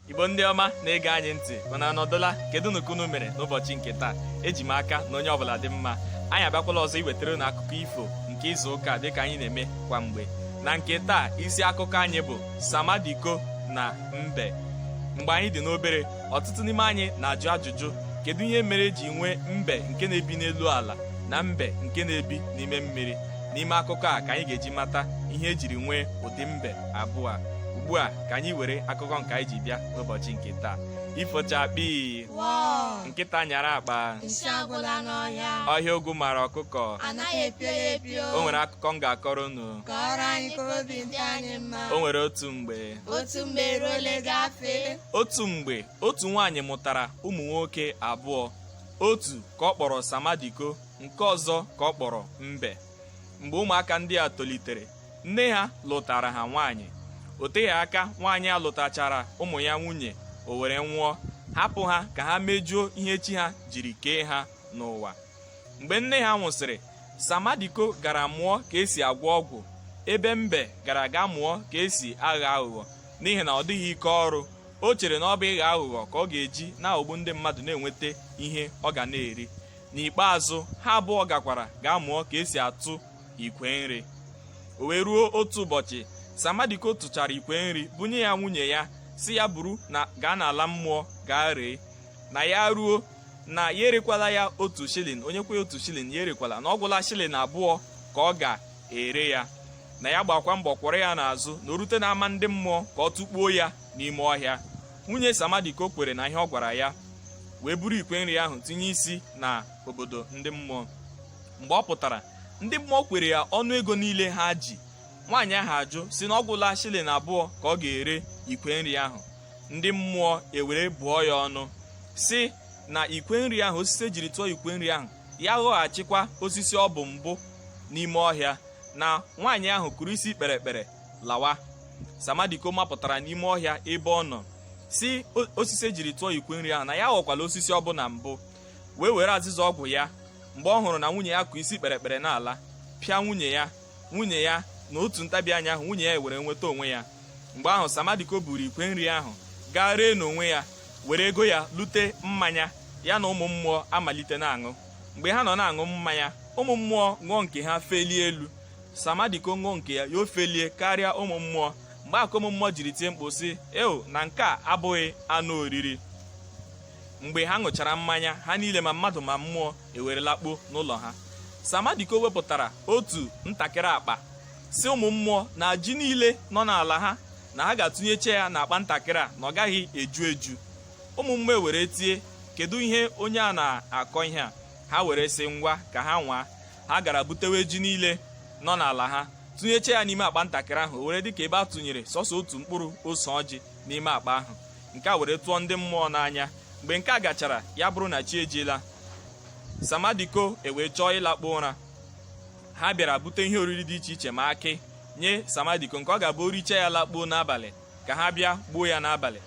igbo ndị ọma na-ege anyị ntị unu anọdụla kedunu ka unu mere n'ụbọchị nke taa eji m aka na onye ọbụla dị mma anyị abịakwala ọzọ iwetara unu akụkọ ifo nke izu ụka dịka anyị na-eme kwa mgbe na nke taa isi akụkọ anyị bụ samadiko na mbe mgbe anyị dị n'obere ọtụtụ n'ime anyị na-ajụ ajụjụ kedu ihe mere eji nwee mbe nke na-ebi n'elu ala na mbe nke na-ebi n'ime mmiri n'ime akụkọ a ka anyị ga-eji mata ihe ejiri nwee ụdị mbe abụọ a ugbu a ka anyị were akụkọ nke anyị ji bịa n'ụbọchị nke taa ifo chakpii Wọọ! nkịta nyara akpa Nsị agwụla n'ọhịa. ọhịa ogwu mara ọkụkọ Anaghị epio ya epio. o nwere akụkọ m ga-akọrọ unu Kọọrọ anyị ka obi dị anyị mma. o nwere otu mgbe Otu mgbe eruole gafee. otu mgbe otu nwaanyị mụtara ụmụ nwoke abụọ otu ka ọ kpọrọ samadiko nke ọzọ ka ọ kpọrọ mbe mgbe ụmụaka ndị a tolitere nne ha lụtara ha nwaanyị o teghị aka nwaanyị a lụtachara ụmụ ya nwunye o were nwụọ hapụ ha ka ha mejuo ihe chi ha jiri kee ha n'ụwa mgbe nne ha nwụsịrị samadiko gara mụọ ka esi agwọ ọgwụ ebe mbe gara ga mụọ ka esi agha aghụghọ n'ihi na ọ dịghị ike ọrụ o chere na ọ bụ ịgha aghụghọ ka ọ ga-eji na-aghọgbu ndị mmadụ na-enweta ihe ọ ga na-eri n'ikpeazụ ha abụọ gakwara ga mụọ ka esi atụ ikwe nri o wee ruo otu ụbọchị samadiko tụchara ikwe nri bunye ya nwunye ya sị ya buru ya gaa n'ala mmụọ gaa ree na ya ruo na ya erekwala ya otu shilling onye kwe otu shilling ya erekwala na ọ gwụla shilling abụọ ka ọ ga-ere ya na ya gbakwa mbọ kwọrọ ya n'azụ na o rute n'ama ndị mmụọ ka ọ tụkpuo ya n'ime ọhịa nwunye samadiko kwere na ihe ọ gwara ya wee buru ikwe nri ahụ tinye isi na obodo ndị mmụọ mgbe ọ pụtara ndị mmụọ kwere ya ọnụ ego niile ha ji nwaanyị ahụ ajụ sị na ọ gwụla shilling abụọ ka ọ ga-ere ikwe nri ahụ ndị mmụọ ewere bụọ ya ọnụ sị na ikwe nri ahụ osisi ejiri tụọ ikwe nri ahụ ya ghọghachikwa osisi ọ bụ mbụ n'ime ọhịa na nwaanyị ahụ kụrụ isi kpere ekpere lawa samadiko mapụtara n'ime ọhịa ebe ọ nọ sị osisi ejiri tụọ ikwe nri ahụ na ya ghọkwala osisi ọ bụ na mbụ wee were azịza ọgwụ ya mgbe ọ hụrụ na nwunye ya kụ isi kpere ekpere n'ala pịa nwunye ya nwunye ya na otu ntabi anya ahụ nwunye ya ewere nweta onwe ya mgbe ahụ samadiko buru ikwe nri ahụ gaa ree n'onwe ya were ego ya lute mmanya ya na ụmụ mmụọ amalite na-aṅụ mgbe ha nọ na-aṅụ mmanya ụmụ mmụọ ṅụọ nke ha felie elu samadiko ṅụọ nke ya ya o felie karịa ụmụ mmụọ mgbe a ka ụmụ mmụọ jiri tie mkpu sị eo na nke a abụghị anụ oriri mgbe ha ṅụchara mmanya ha niile ma mmadụ ma mmụọ ewere lakpuo n'ụlọ ha samadiko wepụtara otu ntakịrị akpa sị ụmụ mmụọ na ji niile nọ n'ala ha na ha ga-atụnyecha ya n'akpa ntakịrị a na ọ gaghị eju eju ụmụ mmụọ ewere tie kedu ihe onye a na-akọ ihe a ha were sị ngwa ka ha nwaa ha gara butewe ji niile nọ n'ala ha tụnyecha ya n'ime akpa ntakịrị ahụ o were dịka ebe a tụnyere sọsọ otu mkpụrụ ose ọjị n'ime akpa ahụ nke a were tụọ ndị mmụọ n'anya mgbe nke a gachara ya bụrụ na chi ejiela samadiko ewee chọọ ịlakpu ụra ha bịara bute ihe oriri dị iche iche ma akị nye samadiko nke ọ ga-abụ o richaa ya lakpuo n'abalị ka ha bịa gbuo ya n'abalị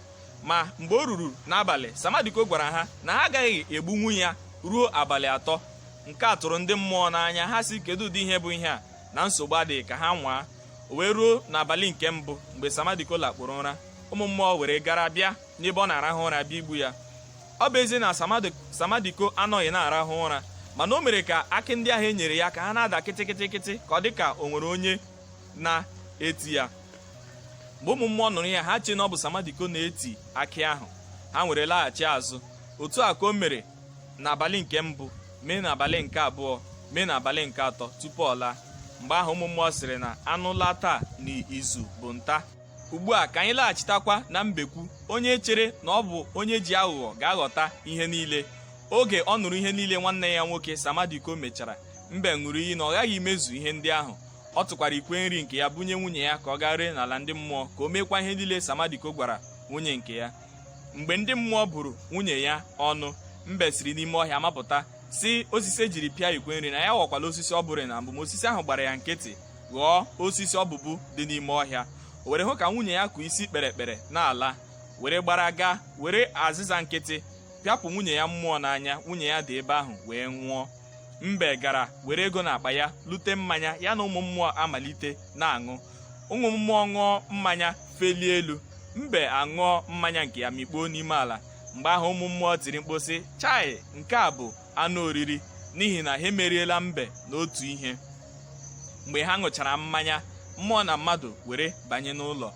ma mgbe o ruru n'abalị samadiko gwara ha na ha agaghị egbunwu ya ruo abalị atọ nke a tụrụ ndị mmụọ n'anya ha sị kedu ụdị ihe bụ ihe a na nsogbu adịghị ka ha nwaa o wee ruo n'abalị nke mbụ mgbe samadiko lakpuru ụra ụmụ mmụọ were gara bịa n'ebe ọ na-arahụ ụra bịa igbu ya ọ bụ ezie na samadiko anọghị na-arahụ ụra mana o mere ka akị ndị ahụ e nyere ya ka ha na-ada kịtịkịtịkịtị ka ọ dị ka o nwere onye na-eti ya mgbe ụmụ mmụọ nụrụ ya ha chee na ọ bụ samadiko na-eti akị ahụ ha were laghachi azụ otu a ka o mere n'abalị nke mbụ mee n'abalị nke abụọ mee n'abalị nke atọ tupu ọ laa mgbe ahụ ụmụ mmụọ sịrị na anụ laa taa na izu bụ nta ugbu a ka anyị laghachitakwa na mbekwu onye chere na ọ bụ onye ji aghụghọ ga-aghọta ihe niile oge ọ nụrụ ihe niile nwanne ya nwoke samadiko mechara mbe ṅụrụ iyi na ọ ghaghị imezu ihe ndị ahụ ọ tụkwara ikwe nri nke ya bunye nwunye ya ka ọ gaa ree n'ala ndị mmụọ ka o meekwa ihe niile samadiko gwara nwunye nke ya mgbe ndị mmụọ bụrụ nwunye ya ọnụ mbe siri n'ime ọhịa mapụta sị osisi e jiri pịa ikwe nri na ya aghọkwala osisi ọ bụrụ na mbụ ma osisi ahụ gbara ya nkịtị ghọọ osisi ọ bụbu dị n'ime ọhịa o were hụ ka nwunye ya kụ isi kpere ekpere n'ala were gbara gaa were azịza nkịtị pịapụ nwunye ya mmụọ n'anya nwunye ya dị ebe ahụ wee nwụọ mbe gara were ego n'akpa ya lute mmanya ya na ụmụ mmụọ amalite na-aṅụ ụmụ mmụọ ṅụọ mmanya felie elu mbe aṅụọ mmanya nke ya mikpuo n'ime ala mgbe ahụ ụmụ mmụọ tiri mkpu sị chai nke a bụ anụ oriri n'ihi na ha emeriela mbe n'otu ihe mgbe ha ṅụchara mmanya mmụọ na mmadụ were banye n'ụlọ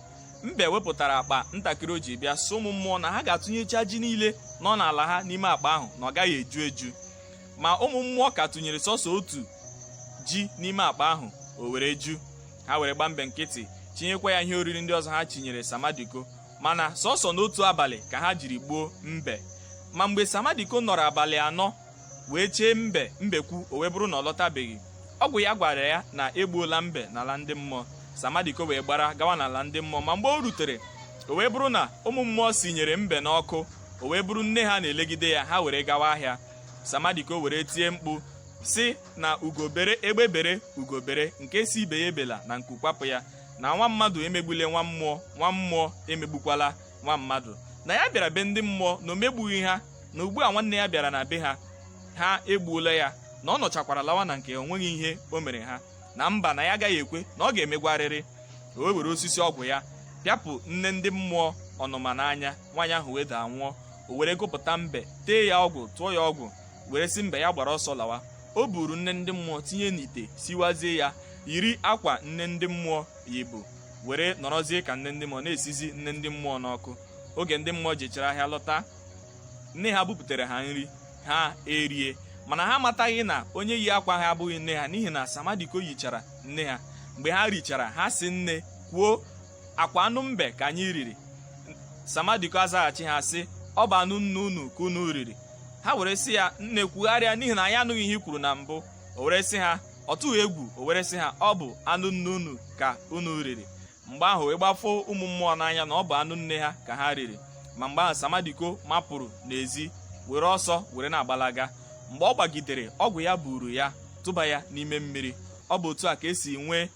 mbe wepụtara akpa ntakịrị o ji bịa sị ụmụ mmụọ na ha ga-atụnyecha ji niile nọ n'ala ha n'ime akpa ahụ na ọ gaghị eju eju ma ụmụ mmụọ ka tụnyere sọsọ otu ji n'ime akpa ahụ o were ju ha were gbaa mbe nkịtị chinyekwa ya ihe oriri ndị ọzọ ha chinyere samadiko mana sọsọ n'otu abalị ka ha jiri gbuo mbe ma mgbe samadiko nọrọ abalị anọ wee chee mbe mbekwu o wee bụrụ na ọ lọtabeghị ọgwụ ya gwara ya na e gbuola mbe n'ala ndị mmụọ samadiko wee gbara gawa n'ala ndị mmụọ ma mgbe o rutere o wee bụrụ na ụmụ mmụọ sinyere mbe n'ọkụ o wee bụrụ nne ha na-elegide ya ha were gawa ahịa samadiko were tie mkpu sị na ugo bere egbe bere ugo bere nke sị ibe ya ebela na nku kwapụ ya na nwa mmadụ emegbule nwa mmụọ nwa mmụọ emegbukwala nwa mmadụ na ya bịara be ndị mmụọ na o megbughị ha na ugbu a nwanne ya bịara na be ha ha egbuola ya na ọ nọchakwara lawa na nke o nweghị ihe o mere ha na mba na ya agaghị ekwe na ọ ga-emegwarịrị o wee were osisi ọgwụ ya pịapụ nne ndị mmụọ ọnụma n'anya nwaanyị ahụ wee daa nwụọ o were gupụta mbe tee ya ọgwụ tụọ ya ọgwụ were sị mbe ya gbara ọsọ lawa o buru nne ndị mmụọ tinye n'ite siwazie ya yiri akwa nne ndị mmụọ yibu were nọrọzie ka nne ndị mmụọ na-esizi nne ndị mmụọ n'ọkụ oge ndị mmụọ jechara ahịa lọta nne ha buputere ha nri ha erie mana ha amataghị na onye yi akwa ha abụghị nne ha n'ihi na samadiko yichara nne ha mgbe ha richara ha sị nne kwuo akwa anụ mbe ka anyị riri samadiko azaghachi ha sị ọ bụ anụ nne unu ka unu riri ha were sị ya nne kwugharịa n'ihi na anyị anụghị ihe i kwuru na mbụ o were sị ha ọ tụghị egwu o were sị ha ọ bụ anụ nne unu ka unu riri mgbe ahụ wee gbafoo ụmụ mmụọ n'anya na ọ bụ anụ nne ha ka ha riri ma mgbe ahụ samadiko mapụrụ n'ezi were ọsọ were na-agbalaga mgbe ọ gbagidere ọgwụ ya buru ya tụba ya n'ime mmiri ọ bụ otu a ka e si nwee